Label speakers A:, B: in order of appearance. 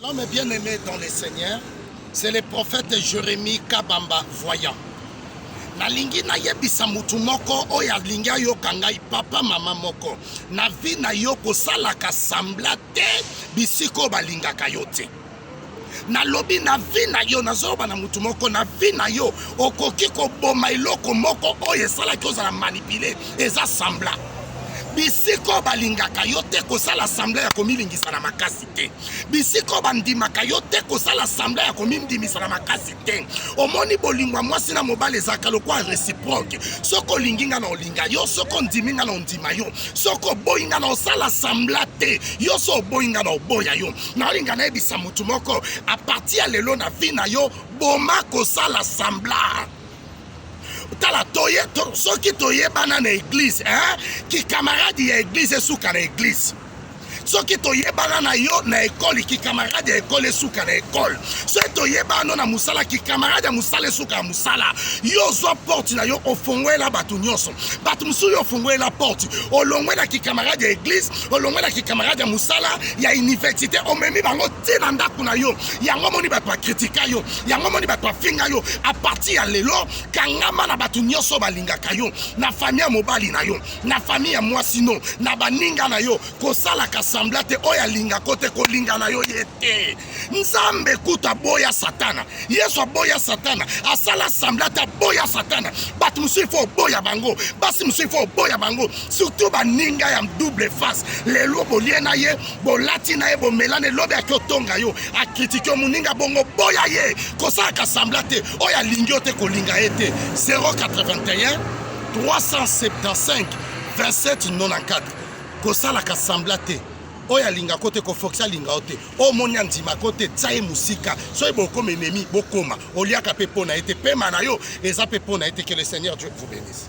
A: L'homme bien aimé dans le Seigneur, c'est le prophète Jérémie Kabamba Voyant. nalingi nayebisa motu moko oyo alingi ayoka ngai papa mama moko na vi na yo kosalaka sambla te bisika oyo balingaka yo te nalobi na vi na yo nazoloba na motu moko na vi na yo okoki koboma eloko moko oyo esalaki ozala manipule eza sambla bisika oyo balingaka yo te kosala sambla ya komilingisa na makasi te bisika oyo bandimaka yo te kosala sambla ya komindimisa na makasi te omoni bolingo ya mwasi na mobali ezalaka lokola reciproke soki olingi nga na olinga yo soki ondimi nga na ondima yo soki oboyi nga na osala sambla te yo so oboyi nga na oboya yo naolinga nayebisa motu moko aparti ya lelo na vi na yo boma kosala sambla tala toye to, soki toyebana na eglize eh? kikamaradi ya eglize esuka na eglize soki toyebana na yo na ekole kikamarade ya ekole esuka na ekole soki toyebano na mosala kikamarade ya mosala esuka ya mosala yo ozwa porte na yo ofongwela bato nyonso bato mosusu yo ofongwela porte olongwela kikamarade ya eglise olongwela kikamarade ya mosala ya université omemi bango ti na ndako na yo yango moni bato bakritika yo yango moni bato bafinga yo apartir ya lelo kangama na bato nyonso balingaka yo na fami ya mobali na yo na fami ya mwasi no na baninga na yo kosalaka sambla te oyo alingako te kolinga na yo ye te nzambe kutu aboya satana yesu aboya satana asala sambla te aboya satana bato mosusu ifo oboya bango basi mosusu ifo oboya bango surtout baninga ya double face lelo bolie na ye bolati na ye bomelani elobi aki otonga yo akritike yo moninga bongo boya ye kosalaka sambla te oyo alingi yo te kolinga ye te 081 375 2794 kosalaka sambla te oyo alinga ko te kofoksi alinga yo te oyo omoni andima ko te tya ye mosika soki bokoma enemi bokoma oliaka mpe mpo na ye te mpema na yo eza mpe mpo na ye te que le seigneur dieu vous bénisse